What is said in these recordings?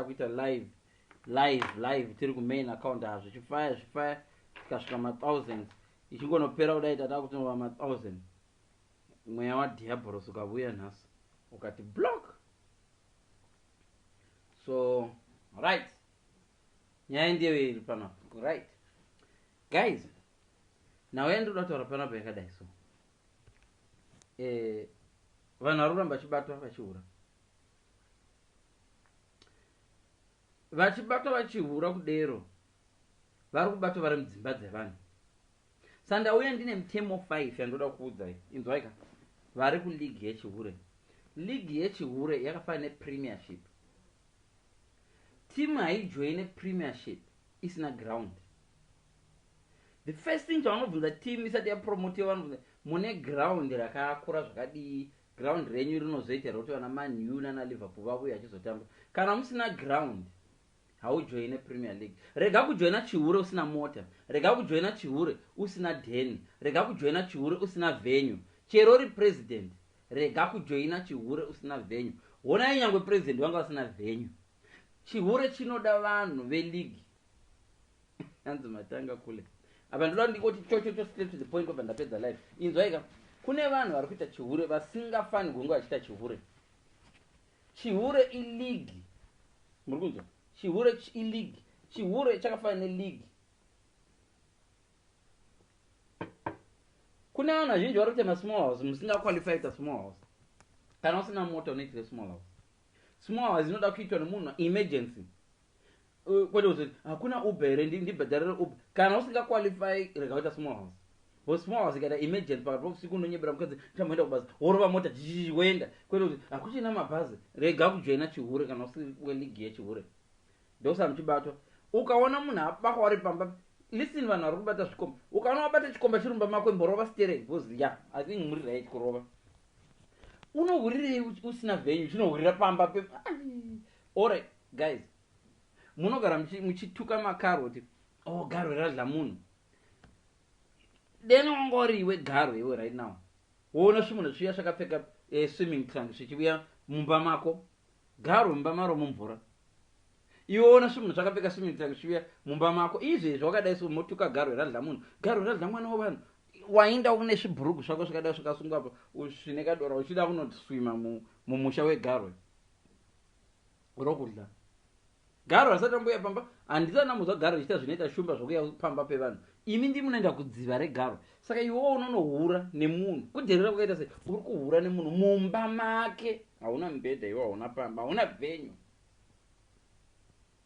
kuita live live live tiri kumain account ha zvichifaya zvifaya zvikasvika mathousands ichingonopera kudai tata kutinova mathousand mweya wadiaboros ukavuya nhasi ukati block so right nyaya ndiyo iri panapa right guys nhau yandinoda kutaura panapa yakadai so eh, vanhu vari kuramba vachibatwa vachihura Vachibata vachihura kudero vari kubata vari mudzimba dzevanhu. Sa ndauya ndine mutemo 5 yandoda kukuudzai. Inzwai ka. Vari ku league yechihure. League yechihure yakafanana ne premiership. Team haijoine premiership isina ground. The first thing chavanobvunza team isati ya promotewa vanobvunza mune ground rakakura zvakadii Ground renyu rinozoita here kuti vana Man U nana Liverpool vauye vachizotamba? Kana musina ground haujoine Premier League. Rega kujoina chihure usina mota, rega kujoina chihure usina den, rega kujoina chihure usina venue. Chero uri President rega kujoina chihure usina venue. Honai nyangwe President vanga vasina venue. Chihure chinoda vanhu ve league. hanzi matanga kule apa ndoda ndingoti chochocho straight to the point obva ndapedza life inzwaika kune vanhu vari kuita chihure vasingafani kunge vachiita chihure chihure iligi muri kunzwa chihure iligi chihure chakafana neligi kune vanhu vazhinji vari kuita masmall house musingaqualify ita small house kana usina mota unoitire small house small house inoda kuitwa nemunhu emergency Uh, kwete kuti hakuna uber here ndibhadharire uber kana usinga qualify rega kuita small house bo small house ikaita emergency pakati pousiku unonyebera mukadzi tamboenda kubasa worova mota jii woenda kwete kuti hakuchina mabhazi rega kujoina chihure kana usi weligi yechihure ndokusana muchibatwa ukaona munhu abakwa wari pamba listen vanhu vari kubata zvikomba ukaona wabata chikomba chirumba mako imborova sterei bcause ya i think muri right kurova unohurirei usina venyu chinohurira pamba pe Alright guys munogara muchituka makarwe kuti oh garwe radla munhu deno ungori iwe garwe iwe right now woona svimunhu sviya svakapfeka eh, swimming trunk svichivuya mumba mako garwe mumba maro mumvura iwe ona svimunhu svakapfeka swimming trunk svichivuya mumba mako izvezvi wakadai so motuka garwe radla munhu garwe radla mwana wevanhu wainda une svibhurugu svako svakadai svakasungwa pa svine kadora uchida kunoti swima mumusha wegarwe mu rokudya garo hasati ambuya pamba handisati ndambonzwa garo ichiita zvinoita shumba zvokuya pamba pevanhu imi ndi munoenda kudziva regaro saka iwewo unonohura nemunhu kudherera kwakaita sei uri kuhura nemunhu mumba make hauna mubhedha iwe hauna pamba hauna venyu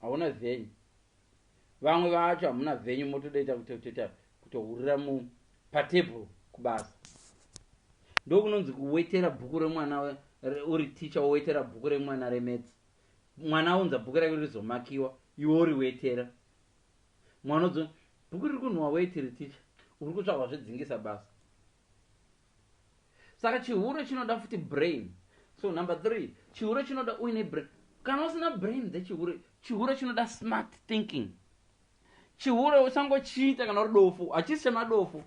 hauna venyu Vamwe vacho hamuna venyu motodaita kutotoita kutohurira mu patable kubasa. Ndokunonzi kuwetera bhuku remwana uri teacher wowetera bhuku remwana remets. Mwana aunza bhuku rake rizomakiwa iwe uriwetera. Mwana udzo bhuku riri kunhuwa weti ri teacher uri kutsvagwa zvedzingisa basa. Saka chihure chinoda futi brain. So number three, chihure chinoda uine brain. Kana usina brain dzechihure, chihure chinoda smart thinking. Chihure uchangochiita kana uri dofo, hachisi chemadofo.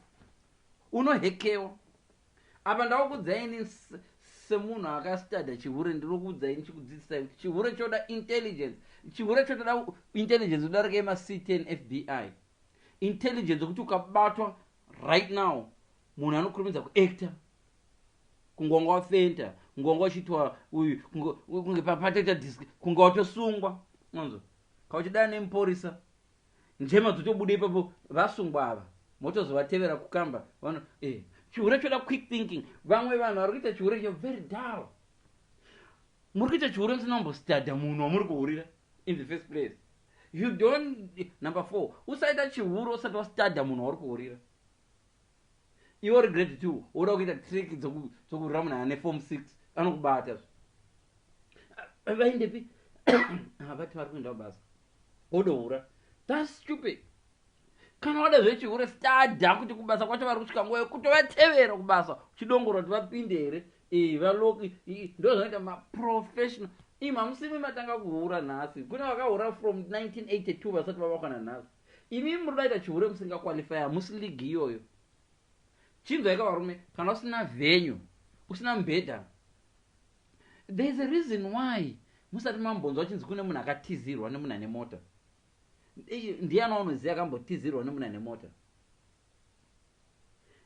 Unohekewa. Apa ndakukudzai ini semunhu akastadha chihure ndinokuudzai ndichikudzidzisai kuti chihure choda intelligence chihure chotoda intelligence udarika yemactn fbi intelligence yokuti ukabatwa right now Munhu anokurumidza kuactor kunge wanga wafenta kunge wanga uchiitwa uyu kunge patoita disk kunge watosungwa manzwa ka uchidana nemupurisa njema dzotobuda ipapo vasungwa ava motozovatevera kukamba vano eh chihure choda quick thinking vamwe vanhu vari kuita chihure you're very dull muri kuita chihure musina kumbostadha munhu wamuri kuhurira in the first place you don't number four usaita chihure usati wastadha munhu wauri kuhurira Iwe uri grade 2 woda kuita trick dzoku dzokurwira munhu ane form 6 anokubata zve. Vaindepi? Havati vari kuenda basa. Wodohura. That's stupid. Kana wada zvechihure stada kuti kubasa kwacho vari kusvika nguva yekutovatevera kubasa uchidongora kuti vapinde here eh, valoki ndozvanoita maprofessional im hamusimi matanga kuhura nhasi kune vakahura from 1982 vasati vavakwana nhasi Imi muri kudaita chihure musinga qualify hamusi league iyoyo chinzwai ka varume kana usina venue usina mubhedha there is a reason why musati mambonzwa chinzi kune munhu akatizirwa nemunhu ane mota ndiyani waunoziva akambotizirwa nemunhu ane mota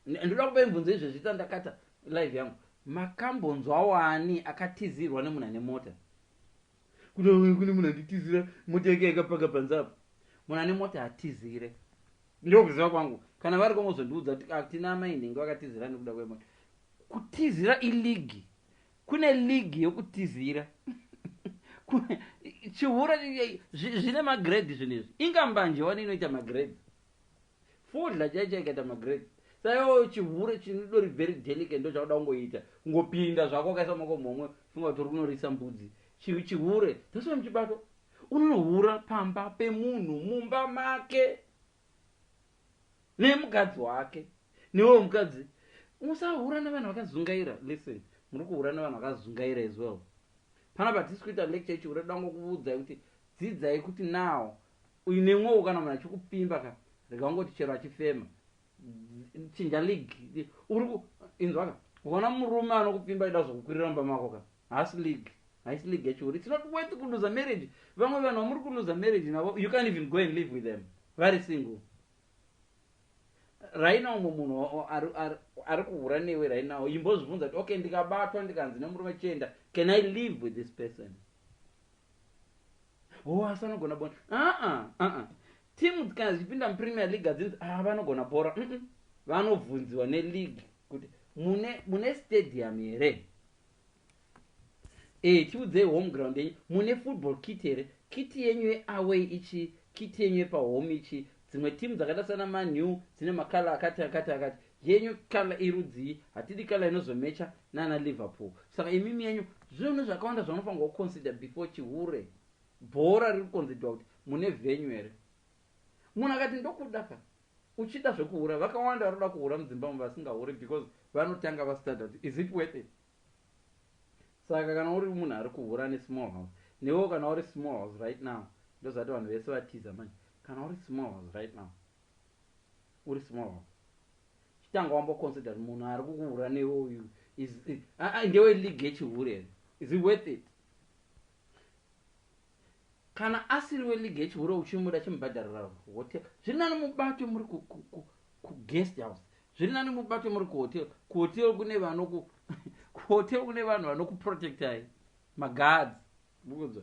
ndoda kupai mvunzo izvezvi tandakata live yangu makambonzwa wani akatizirwa nemunhu ane mota Kune kune munhu anditizira mota yake yakapaka panze apa. Munhu ane mota hatizire. Ndokuziva kwangu. Kana vari ko mozondiudza kuti atina ah, amai nhingi vakatizira nekuda kwemota. Kutizira iligi. Kune ligi yokutizira. chihura zvine magrade zvinhu izvi ingambanje wani inoita magrade Fodla chaicho ikaita magrade saiwo chihure chinodori very delicate ndo chakuda kungoita kungopinda zvako wakaisa maoko mhomwe funga kuti uri kunorisa mbudzi chi, chihure that's why muchibato unonohura pamba pemunhu mumba make nemukadzi wake newe mukadzi musahura nevanhu vakazungaira listen muri kuhura nevanhu vakazungaira as well panapa tisi kuita lecture ichihure dango kuvudzai kuti dzidzai kuti now Uine mwoyo kana munhu achikupfimba ka rega kungoti chero achifema chinja league uri ku inzwa ka ukaona murume anokupfimba achida kuzokukwirira mumba mako ka haasi league haisi league yachiuri it's not worth kuluza marriage vamwe vanhu vamuri kuluza marriage navo you can't even go and live with them vari single raina umwe munhu ari kuhura newe rainawo imbozvibvunza kuti okay ndikabatwa ndikanzi nemurume chienda can i live with this person oh asi vanogona bona aa aa timu kana dzichipinda mupremier league adzinzi a ah, vanogona bhora mm -mm. vanobvunziwa neleague kuti mune, mune stadium here e eh, tiudzei home ground yenyu mune football kit here kiti yenyu yeaway ichi kiti yenyu yepahome ichi dzimwe timu dzakaita sana manew dzine makala akati akati akati Yenyu colour irudzii hatidi colour inozomecha nana Liverpool saka imimi yenyu zvinhu zvakawanda zvanofanirwa ku consider before chihure bhora riri kukonzidwa kuti mune venyu here munhu akati ndokuda ka uchida zvekuhura vakawanda varikuda kuhura mudzimba umu vasingahure because vanotanga va studer kuti is it worth it saka kana uri munhu ari kuhura ane small house newewo kana uri small house right now ndozvati vanhu vese vatiza manje kana uri small house right now Uri small wako. Chitanga wambo consider munhu ari kukuhura newe uyu is aa ndewe league yechihure here? Is it worth it? Kana asiri we league yechihure uchimuda chimubhadharira hotel. Zviri nani mubate muri ku, ku, ku, ku guest house. Zviri nani mubate muri ku hotel. Ku hotel kune vanoku ku hotel kune vanhu vanokuprotectai. Maguards. Mukunzwa?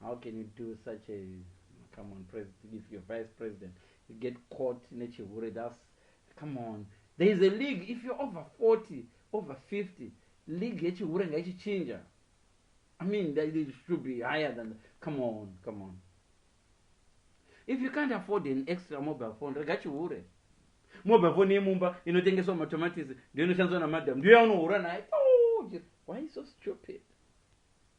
How can you do such a come on president if your vice president you get caught nechihure thus come on there is a league if you're over 40 over 50 league yechihure ngaichichinja i mean that it should be higher than come on come on if you can't afford an extra mobile phone rega chihure mobile phone yemumba inotengeswa matomatisi ndiyo inoshandiswa namadam ndiyo yaunohura naye oh, why so stupid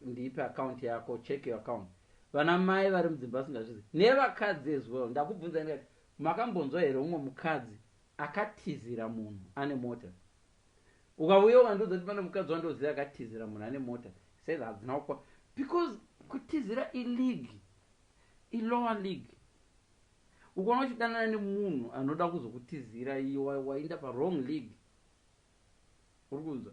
Ndipe account yako check your account. Vana mai vari mudzimba vasingazvizivi nevakadzi as well ndakubvunzai ndikati makambonzwa here umwe mukadzi akatizira munhu ane mota ukauya ukandiudza kuti pane mukadzi wandoziva akatizira munhu ane mota said hadzina kukwa because kutizira ileague ilower league ukaona uchidanana nemunhu anoda kuzokutizira iye wainda parong league uri kunzwa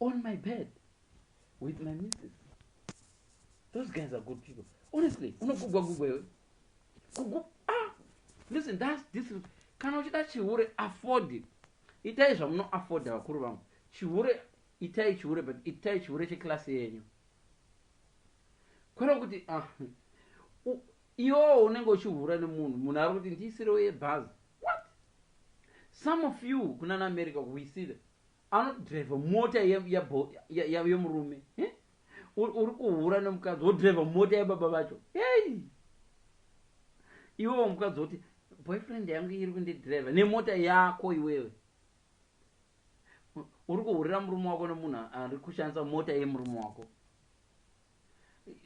on my bed with my misses those guys are good people honestly unogugwa gugwa iwe kugu ah listen thats this kana uchida chihure afford it itai zvamunoafforda vakuru vangu chihure itai chihure but itai chihure checlasi yenyu kwero kuti ah, iwowo unenge uchihura nemunhu munhu ari kuti ndiisirewo yebhazi what some of you kunana america we see them Anoti driver mota yemurume eh? uri kuhura nemukadzi wodriver mota yebaba vacho hey! iwewo mukadzi woti boyfriend yangu iri kundidriver nemota yako iwewe uri kuhurira murume wako nemunhu ari kushandisa mota yemurume wako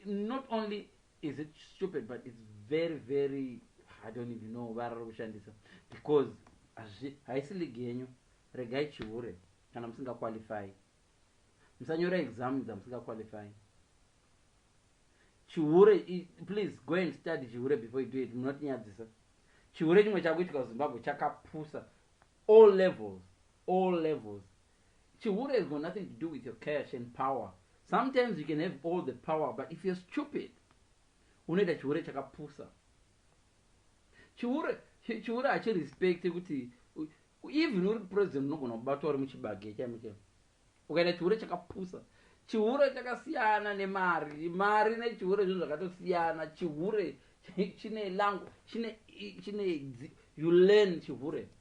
not only is it stupid but it's very very i don't even know vara rokushandisa because haisi ligi yenyu regai chihure kana musingaqualify musanyora exam dzamusingaqualify chihure please go and study chihure before you do it munotinyadzisa chihure chimwe chakuitika kuzimbabwe chakapusa all levels all levels Chihure has got nothing to do with your cash and power sometimes you can have all the power but if you're stupid unoita chihure chakapusa chihure chihure hachirespect kuti even uri president unogona kubatwa uri muchibage chaimo chaimo ukaita chihure chakapusa chihure chakasiyana nemari mari nechihure zvinhu zvakatosiyana chihure chine langu chine chine you learn chihure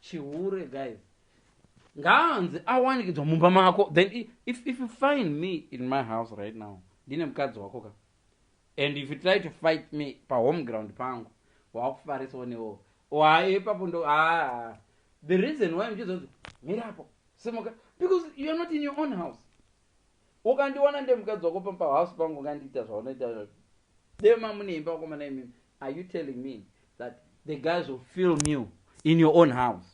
chihure guys ngaanzi awanikidzwa mumba mako then if, if you find me in my house right now ndine mukadzi wako ka and if you try to fight me pahome ground pangu wakufarisa onewo waepapo ndo aa the reason why mchizonzi mirapo semoka because youare not in your own house Ukandiwana ndiri mukadzi wako pam pa house pangu ungandiita zvaunoita izvozvo. Dai mamune imba vakomana imimi are you telling me that the guys will film you in your own house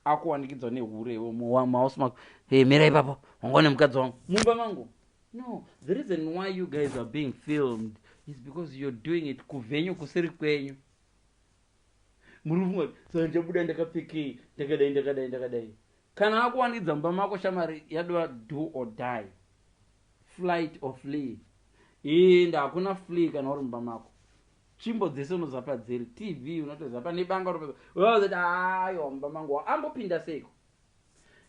akuwanikidzwa nehure iwe muhouse mako hey, mira ipapo wanga une mukadzi wangu mumba mangu no the reason why you guys are being filmed is because you're doing it kuvenyu kusiri kwenyu muri kufunga kuti sandichabuda ndakapfekei ndakadai ndakadai ndakadai Kana akuwanikidza mumba mako shamwari yadova do or die flight or flee inde hakuna flee kana uri mumba mako tsvimbo dzese unoziva padziri tv unotoziva pane banga unotoziva aiwa mumba mangu ambopinda seiko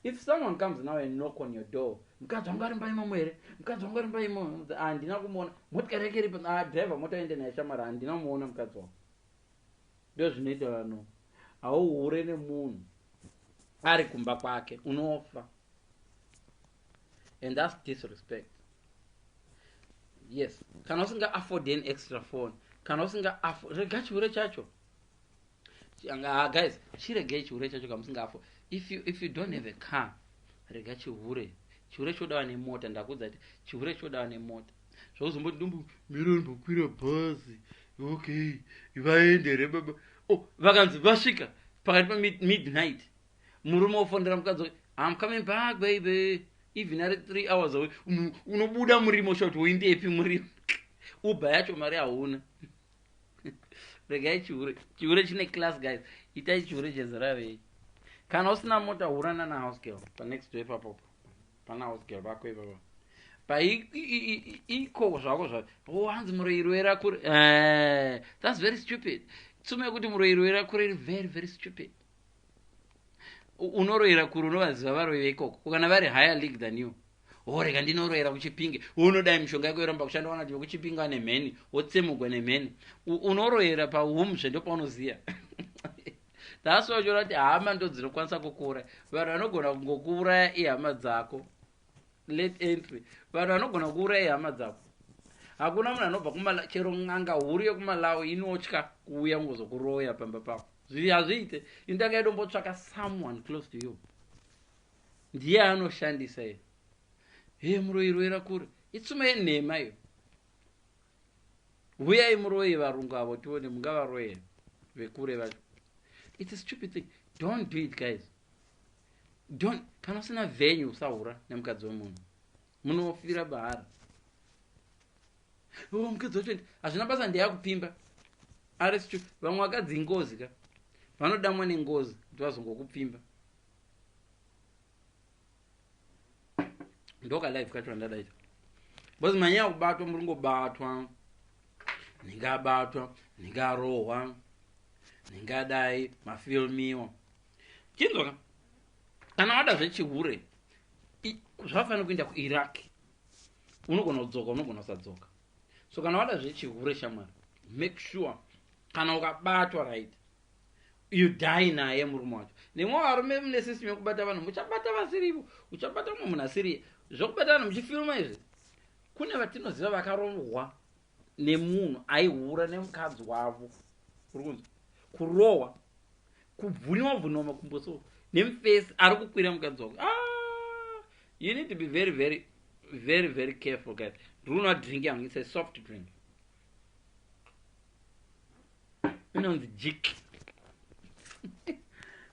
if someone comes now and knock on your door mukadzi wangu ari mumba imomo here mukadzi wangu ari mumba imomo handina kumuona motikari yake iripo ah, driver mota ende naye shamwari handina kumuona mukadzi wangu Ndozvinoita vanhu hauhure nemunhu ari kumba kwake unofa and thats disrespect yes kana usinga afford an extra phone kana usinga rega chihure chacho ah, guys chiregei chihure chacho kamusinga afford if you, if you don't have a car rega chihure chihure chodawa nemota ndakuudza kuti chihure chodawa nemota zvauzomboti ndombo mira ndombokwira bhazi okay vaende here baba o oh, vakanzi vasvika pakati pamidnight murume wofonera mukadzi wake am coming back baby even ari three hours away unobuda murimo usha kuti woindepi murimo uba yacho mari hauna regai chihure chihure chine class guys itai chihure chezera rei kana usina mota hurana nahouse girl panext to epapopo Pana house girl vako ivava. Pa i i iko zvako zva. Oh hanzi muroiro era kure. Eh, that's very stupid. Tsumo yekuti muroiro era kure iri very very stupid. Unoroira kure unovaziva varoyi veikoko. Ukana vari higher league than you. Ore oh, kandi inoroera kuchipinge. Unodai mishonga yako yoramba kushanda wana kuti kuchipinge ane mheni, wotsemugwa nemheni. Unoroera pa home zve ndopa unoziya. That's why uchiona kuti hama ndo dzinokwanisa kukuuraya. Vanhu vanogona kungokuuraya ihama dzako. Late entry. Vanhu vanogona kukuuraya ihama dzako. Hakuna munhu anobva kumala chero n'anga huru yekumalawi inotya kuuya kungozokuroya pamba pako. Zviri hazviite. Indanga yedu mbotsvaka someone close to you. Ndiye anoshandisa iye. He muroyi roira kure. Itsuma yenhema iyo. huyai muroye varungu avo tione mungavaroye vekure vacho its a stupid thing don't do it guys don't kana usina venyu usahura nemukadzi wemunhu munofira bahara oh, mukadzi wacho hazvina basa ndeyakupimba ari stu vamwe vakadzi ingozi ka vanodamwa nengozi kuti vazongokupfimba ndoka live kacho andadaita bcause manyaya kubatwa muri ngobatwa nenge abatwa nenge arohwa nenge adai mafilmiwa chinzwa ka kana wada zvechihure zvafanira kuenda kuiraq unogona kudzoka unogona kusadzoka so kana wada zvechihure shamwari make sure kana ukabatwa right You die naye murume wacho. Nemwe varume mune system yekubata vanhu muchabata vasirivo. Uchabata mumwe munhu asiriye. Zvekubata vanhu muchifilma izvi. Kune vatinoziva vakarohwa nemunhu aihura nemukadzi wavo. Uri kunzwa? Kurohwa kubvuniwa bvuniwa makumbo so nemufesi ari kukwira mukadzi wako. Ah! you need to be very very very very careful guys runa drink yangu it's a soft drink inonzi jik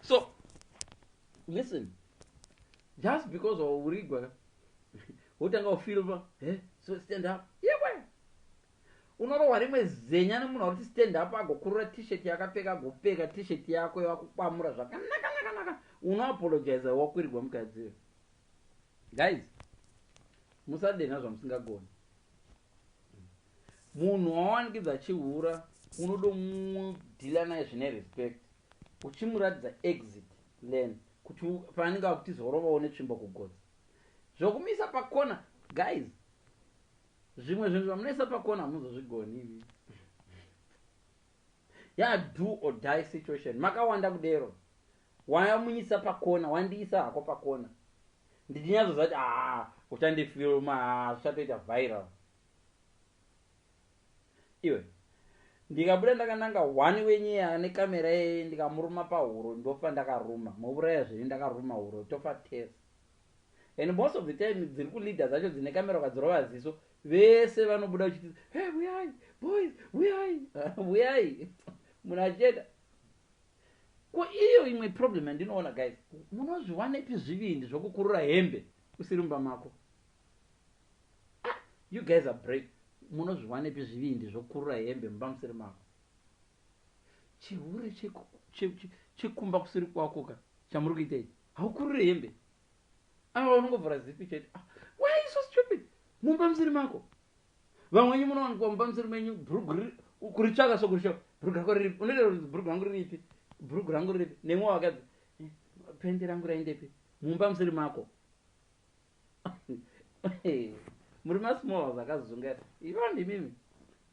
so listen just because waurigwa wotanga ufilva he so stand up yewe unorohwa rimwe zenya nemunhu auri kuti stand up agokurura t-shirt yakapfeka agopfeka t-shirt yako yakukwamura zvakanakanakanaka unoapologiza wakwirigwa mukadziwe guys musadenha zvamusingagoni Munhu wawanikidza achihura unodomudealer naye zvine respect uchimuratidza exit lane kuti paanenge akutiza urovawo netsvimbo kugotsi. Zvokumuisa pakona guys zvimwe zvinhu zvamunoisa pakona hamuzozvigoni imi. Ya do or die situation makawanda kudero wamuisa pakona wandiisa hako pakona ndichinyatsozati haa uchandifilma haa zvichatoita viral iwe ndikabuda ndakananga one wenyeya ane kamera yeye ndikamuruma pahuro ndofa ndakaruma mouraya zviri ndakaruma huro tofa tese and most of the time dziri kuleader dzacho dzine kamera ukadzirova ziso vese vanobuda uchiti he huyai boys huyai huyai munhu achienda ko iyo imwe problem yandinoona guys munozviwanepi zvivindi zvokukurura hembe usiri mumba mako Ahh you guys are brave munozviwanepi zvivindi zvokurura hembe mumba musiri mako. Chihure chekumba kusiri kwako ka chamuri kuita ichi haukurure hembe ava unongovhura zipi chete. Ah, why are you so stupid mumba musiri mako vamwenyu munowanikwa mumba musiri menyu bhurugu kuritsvaka so kurisho bhurugu rako riripi unoita kuti bhurugu rangu riripi bhurugu rangu riripi nemwe wakadzi eh, pende rangu raindepi mumba musiri mako Muri ma small house akazunga ivo ndimimi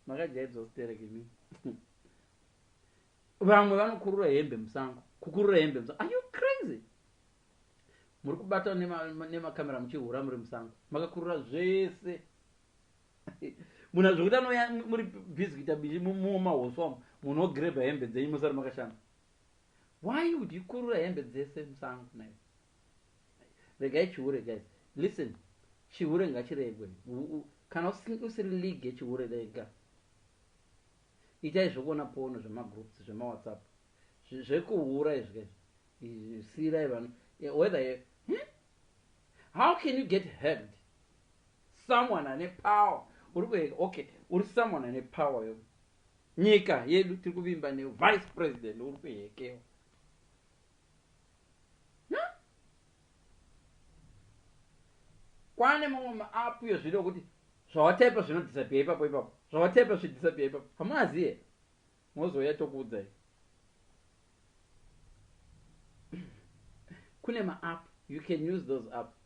makajaidzwa sterek imi vamwe vanokurura hembe musango kukurura hembe musango are you crazy muri kubata nemakamera nema muchihura muri musango makakurura zvese munhu azvekuti anoya muri busy kuita bishi mumahoswa munogreba hembe dzenyu musari makashanda why would you kurura hembe dzese musango nayo Regai chihure guys. Listen. Chihure ngachiregwe. Kana usiri league yechihure rega. Itai zvekuona pono zvemagroups zvemawhatsapp. Zvekuhura izvi guys. Sirai vanhu. Whether you, hmm? How can you get helped? Someone ane power. Uri kuheka. Okay. Uri someone ane power yo. Nyika yedu tiri kuvimba ne vice president uri kuhekewa. Na? Kwane mamwe maapu iyo zviri okuti zvawataipa zvinodhisapiya ipapo ipapo. Zvawataipa zvidhisapiya ipapo. Hamuazi here? Mozouya tokuudzai. Kune maapu. You can use those apu.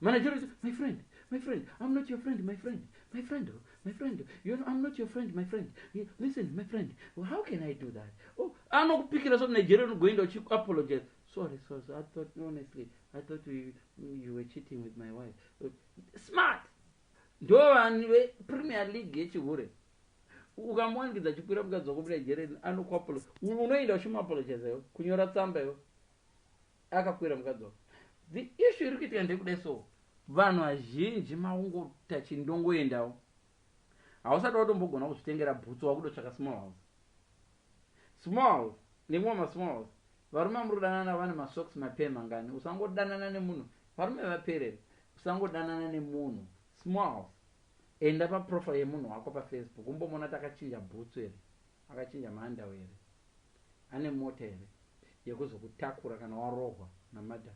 Manager is, my friend, my friend, I'm not your friend, my friend, my friend, oh, my friend, you know, I'm not your friend, my friend. Listen, my friend, well, how can I do that? Oh, I'm not picking up some Nigerian going to check apologize. Sorry, sorry, sorry, I thought, honestly, I thought you, you were cheating with my wife. But, smart! Ndo vanhu vepremier league yechihure ukamuwanikidza chikwira mukadzi wako munigerian anokuapolo unoenda uchimuapologiza yo kunyora tsamba yo akakwira mukadzi the issue iri kuitika ndekuda so vanhu vazhinji makungota chindongoendawo hausati watombogona kuzvitengera bhutsu wakudotsvaka small house small house nekumwe masmall house varume amurudanana vane masocks mapema ngani usangodanana nemunhu varume vaperere usangodanana nemunhu small house enda paprofile yemunhu wako pafacebook umbomona takachinja bhutsu here Akachinja maandawe here? Ane mota here yekuzokutakura kana warohwa namadam?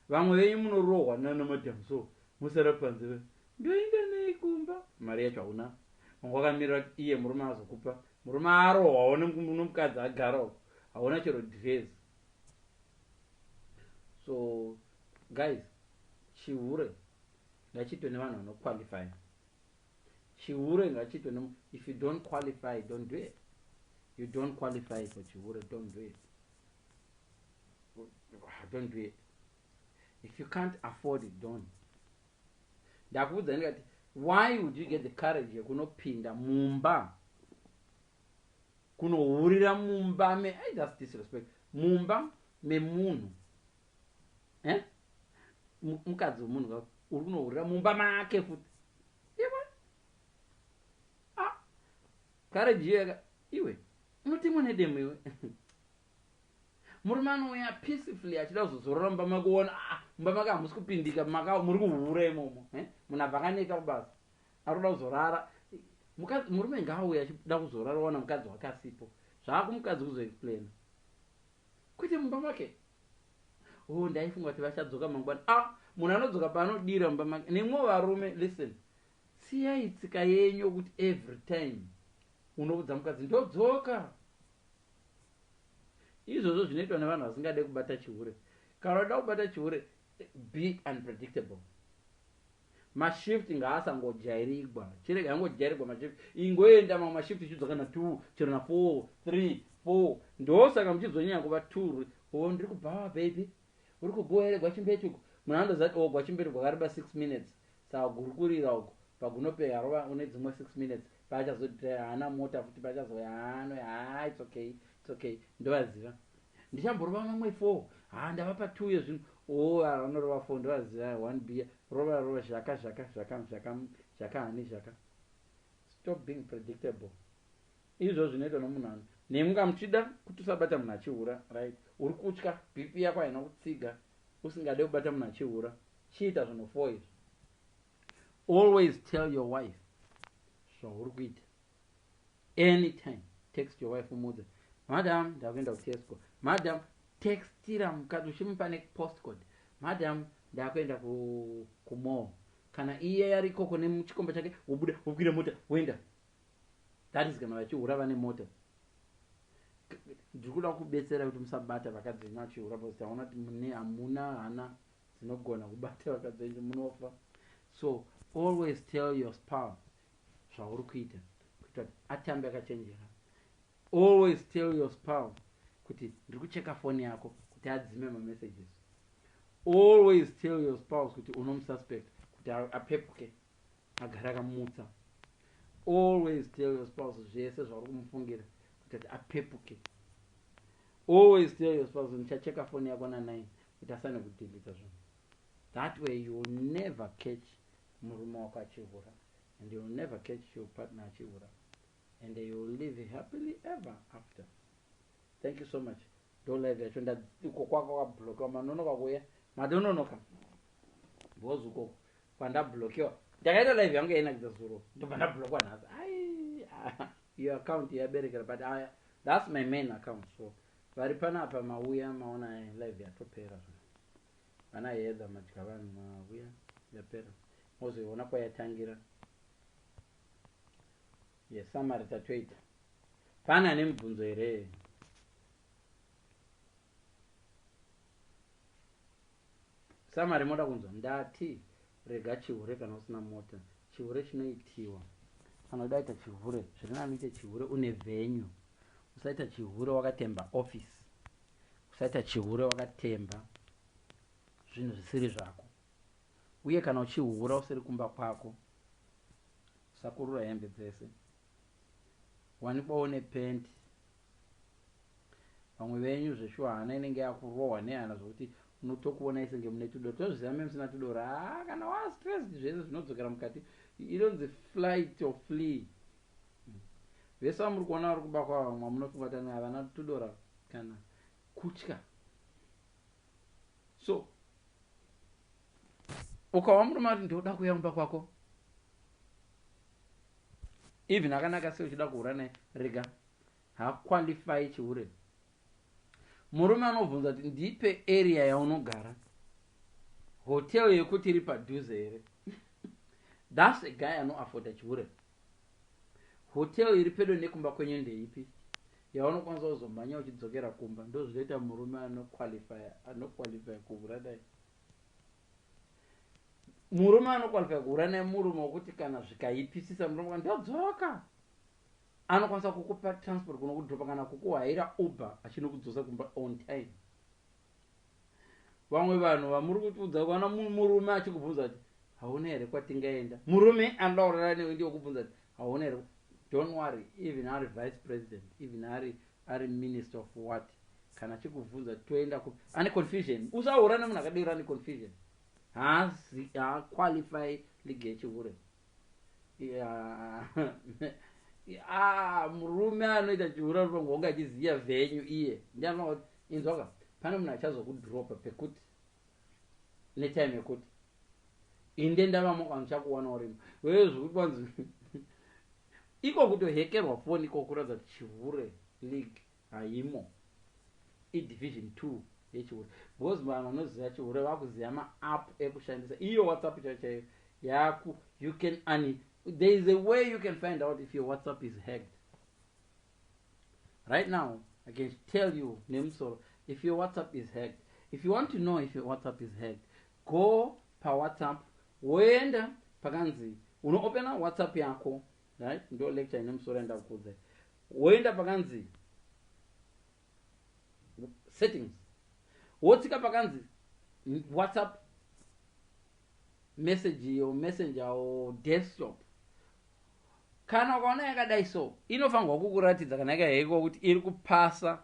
Vamwe venyu munorohwa nana madam so musara panze ve. Ndoenda nei kumba? Mari yacho hauna. Wanga wakamirira kuti iye murume azokupa. Murume arohwawo nomukadzi agara uko. Hauna chero dhirezi. So guys, chihure ngachiitwe nevanhu vanoqualifya. Chihure ngachiitwe ne if you don't qualify don't do it. You don't qualify for chihure don't do it. Don't do it. If you can't afford it don't. Ndakuudza ndikati why would you get the courage yekunopinda mumba kunohurira mumba me I just disrespect mumba memunhu eh? mukadzi wemunhu ka uri kunohurira mumba make futi iwe ah, kareji iyoyaka iwe unotemwa nedemo iwe murume anouya peacefully achida kuzozorora mumba make uona ah, mumba make hamusi kupindika maka muri kuhura imomo eh? munhu abva akaneta kubasa arikuda kuzorara mukadzi murume ngaauya achida kuzorara wana mukadzi wake asipo zvaakumukadzi kuzoexplaina kwete mumba make Hoo ndaifunga kuti vachadzoka mangwana ah munhu anodzoka paanodira mumba make nemwo varume listen siyai tsika yenyu yokuti every time unoudza mukadzi ndodzoka izvozvo zvinoitwa nevanhu vasingade kubata chihure kana uda kubata chihure be unpredictable Ma shift ngaasangojairigwa. Chiregai angojairigwa ma shift. Ingoenda mamwe ma shift chichidzoka na 2 chero na 4, 3, 4. Ndosaka muchizonyanya kuva turi. Or ndiri kubhawa baby. Uri kubhowa here Gwachimbetu uko. Munhu anondoziva kuti oh Gwachimbetu gwakareba 6 minutes. Saka gurukurira uko. Pagunope harova une dzimwe 6 minutes. Paachazoti haana mota futi paachazouya haa anouya haa it's okay. It's okay. Ndovaziva. Ndichamborova mamwe four haa ndavapa two iye zvino ooh ava vanorova four ndovaziva one beer rova rova zvaka zvaka zvaka zvaka zvaka honey zvaka stop being predictable izvozvo zvinoitwa nomunhu ano nemi ka muchida kuti usabata munhu achihura right uri kutya bp yako haina kutsiga usingade kubata munhu achihura chiita zvinhu four izvi always tell your wife zvauri kuita anytime text your wife umuudze madam ndakuenda kutesco madam textira mukadzi uchimupa nepostcode madam ndakuenda kumall kana iye yari ikoko nechikomba chake wobuda wokwira mota woenda that is kana vachihura vane mota ndiri kuda kubetsera kuti musabata vakadzi venyu achihura bcause taona kuti mune hamuna hana dzinogona kubata vakadzi venyu munofa so always tell your spouse zvauri kuita kuita kuti atambe akachenjera always tell your spouse kuti ndiri kucheka foni yako kuti adzime mamessages always tell your spouse kuti unomususpect kuti apepuke agara akamutsa always tell your spouse zvese zvauri kumufungira kuti kuti apepuke always tell your spouse ndichacheka foni yako nanai kuti asane kudhilita zvinhu That way you will never catch murume wako achihura and you will never catch your partner achihura and you will live happily ever after. Thank you so much. Ndo live yacho ndiko kwako kwablokewa manonoka kuya madononoka because uko kwandablokewa ndakaita live yangu yainakidza zuro ndobva ndablokewa nhasi ai ah, iyo account yaberekera but aya that's my main account so vari panapa mauya maona live yatopera zvona Vana Heather madya vanhu mahuya yapera mozoiona kwayatangira yesamari tatoita pane ane mubvunzo here samari moda kunzwa ndati rega chihure kana usina mota chihure chinoitiwa anoda ita chihure zvirinanoita chihure une venyu usaita chihure wakatemba office Usaita chihure wakatemba zvinhu zvisiri zvako, uye kana uchihura usiri kumba kwako, usakurura hembe dzese. Wanikwawo nepenti. Vamwe venyu zveshuwa hana inenge yakurohwa nehana zvokuti unotokuvonai senge mune tudoro. Tinozviziva meme sina tudoro. Haa kana waa stressed zvese zvinodzokera mukati. Inonzi flight or flee. Umm vese vamuri kuona vari kuba kwavo vamwe vamunofunga kuti ane havana tudora kana kutya so ukawa murume ati ndoda kuya kumba kwako even akanaka sei uchida kuhura naye rega haqualify chihure murume anobvunza kuti ndipe area yaunogara hotel yekuti iri padhuze here thats a guy anoafforda chihure Hotel iri pedo nekumba kwenyu ndeipi yaunokwanisa kuzomhanya uchidzokera kumba ndozvinoita murume anoqualifya anoqualifya kuhura naye murume anoqualifya kuhura naye murume wekuti kana zvikaipisisa murume ka ndodzoka anokwanisa kukupa transport kunokudropa kana kukuhaira uber achinokudzosa kumba on time vamwe vanhu vamuri kutiudza kana murume achikubvunza kuti hauna here kwatingaenda murume anoda kurara newe ndiwo kubvunza kuti hauna here don't worry even ari vice president even ari ari minister of what kana achikubvunza toenda kupi ane confusion usaurane munhu akadero ane confusion haazi haaqualify league yechihure Ah, murume anoita chiura uri pangu wanga achiziva venyu iye ndianoa kuti inzwaka pane munhu achazokudropa pekuti netime yekuti inde ndavamo kana uchakuwana urimo wewe zvekuti wanzi iko kutohekerwa foni iko kuratidza kuti chihure league Haimo. I division two yechihure. Because vanhu vanoziva chihure vakuziva ma app ekushandisa. Iyo WhatsApp chaiyo chaiyo yaku you can ani there is a way you can find out if your WhatsApp is hacked. Right now I can tell you nemusoro if your WhatsApp is hacked. If you want to know if your WhatsApp is hacked, go pa WhatsApp woenda pakanzi unoopena WhatsApp yako right ndo lecture ine musoro yandakukudzai Woenda pakanzi settings wotsika pakanzi WhatsApp message or messenger or desktop. Kana ukaona yakadai so inofanirwa kukuratidza kana yakahekiwa kuti iri kupasa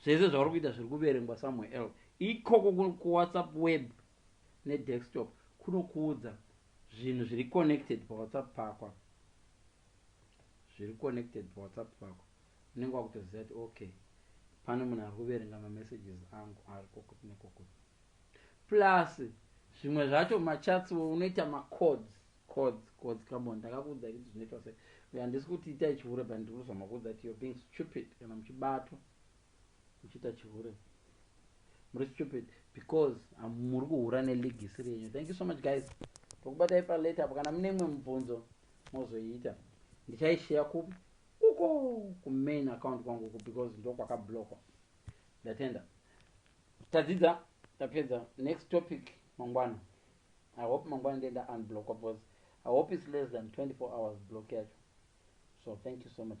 zvese zvauri kuita zviri kuverengwa somewhere else ikoko kuWhatsApp web nedesktop kunokuudza zvinhu zviri connected pawhatsapp pako apa zviri connected pawhatsapp pako unenge wakutoziva kuti okay pane munhu ari kuverenga mamessages angu ari kokuti nekokuti plus zvimwe zvacho machats wo unoita macodes codes codes kamboni ndakakuudza kuti zvinoitwa sei handisi kuti ita ichihure but ndiri kuzama kuudza kuti you're being stupid kana muchibatwa Uchiita chihure. Muri stupid because muri kuhura ne league isiri yenyu. Thank you so much guys. Tokubatai pa later apo kana mune mwe mubvunzo mozoiita. Ndichaishare kupi? Uko ku main account kwangu uko because ndokwaka blockwa. Ndatenda. Tadzidza tapedza next topic mangwana. I hope mangwana ndienda unblockwa because I hope it's less than 24 hours block yacho. So thank you so much.